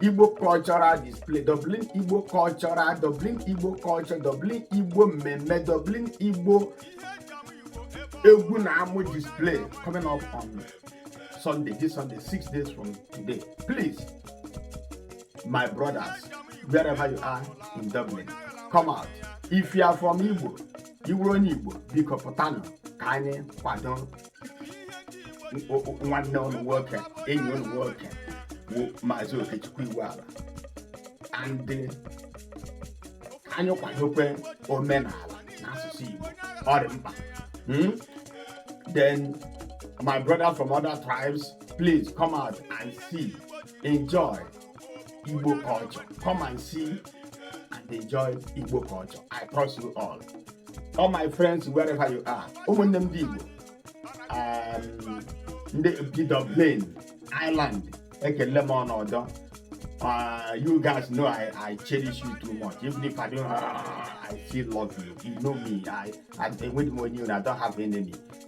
Igbo cultural display Dublin Igbo cultural Dublin Igbo culture Dublin Igbo mmemme Dublin Igbo egwu na amụ display coming up on Sunday this Sunday six days from today please my brothers wherever you are in Dublin come out if you are from Igbo ị wụrụ onye Igbo biko pụtanụ ka anyị kwado nwanne unu nwoke enyi unu nwoke bụ Maazị Okechukwu Iwuala and ka anyị kwadokwe omenala na asụsụ igbo ọ dị mkpa hmm? then my brother from other tribes please come out and see enjoy Igbo culture. Come and see and enjoy Igbo culture. I trust you all. All my friends, wherever you are, ụmụnne m dị Igbo, um, ndị bi Dublin, Ireland, ekele m ọnọdụ. Uh, you guys know I, I cherish you too much. Even if I don't, uh, I still love you. You know me. I, I, with money, I don't have enemy.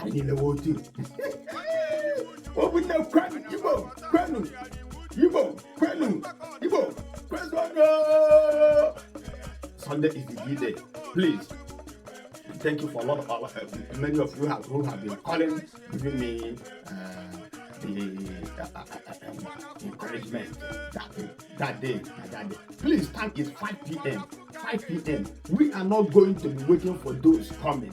anyị niile wụ otu ọ bụ nne kwenu igbo kwenu igbo kwenu igbo kwezuonụ Sunday is the D-day please thank you for a lot of our, uh, many of you have, who have been calling giving me uh, the uh, uh, uh, um, encouragement that, that day that day please time is 5 p.m 5 p.m we are not going to be waiting for those coming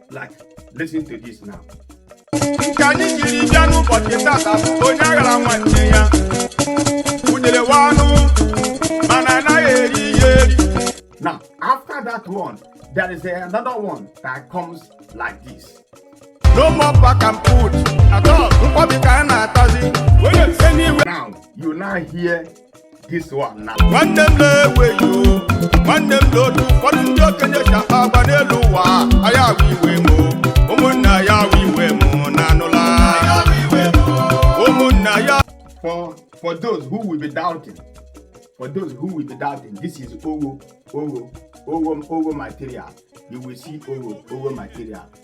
like listen to this now nke anyị jiri bịa n'ụbọchị tata bụ onye aghara nwanne ya udele wụ anụ mana anaghị eri ya eri now after that one there is another one that comes like this no more back and put at all nkwọbi ka a na-atazi onye ewena iwe now you now hear this one now. nwanne m na-eweghị o nwanne m lee otu ụfọdụ ndị okenye ji akpa agwa n'elu ụwa ọ ya wụ iwe m o. ụmụnna ya wụ iwe m na anụla ụmụnna ya For for those who will be doubting, for those who will be doubting, this is Owo, Owo, Owo, Owo material. You will see Owo, Owo material.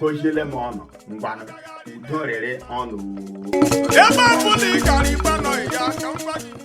goziele m unu ngwanụ udo rịrị unu ebe ọ bụla ị gara ịgbanọ ya ka m gwa gị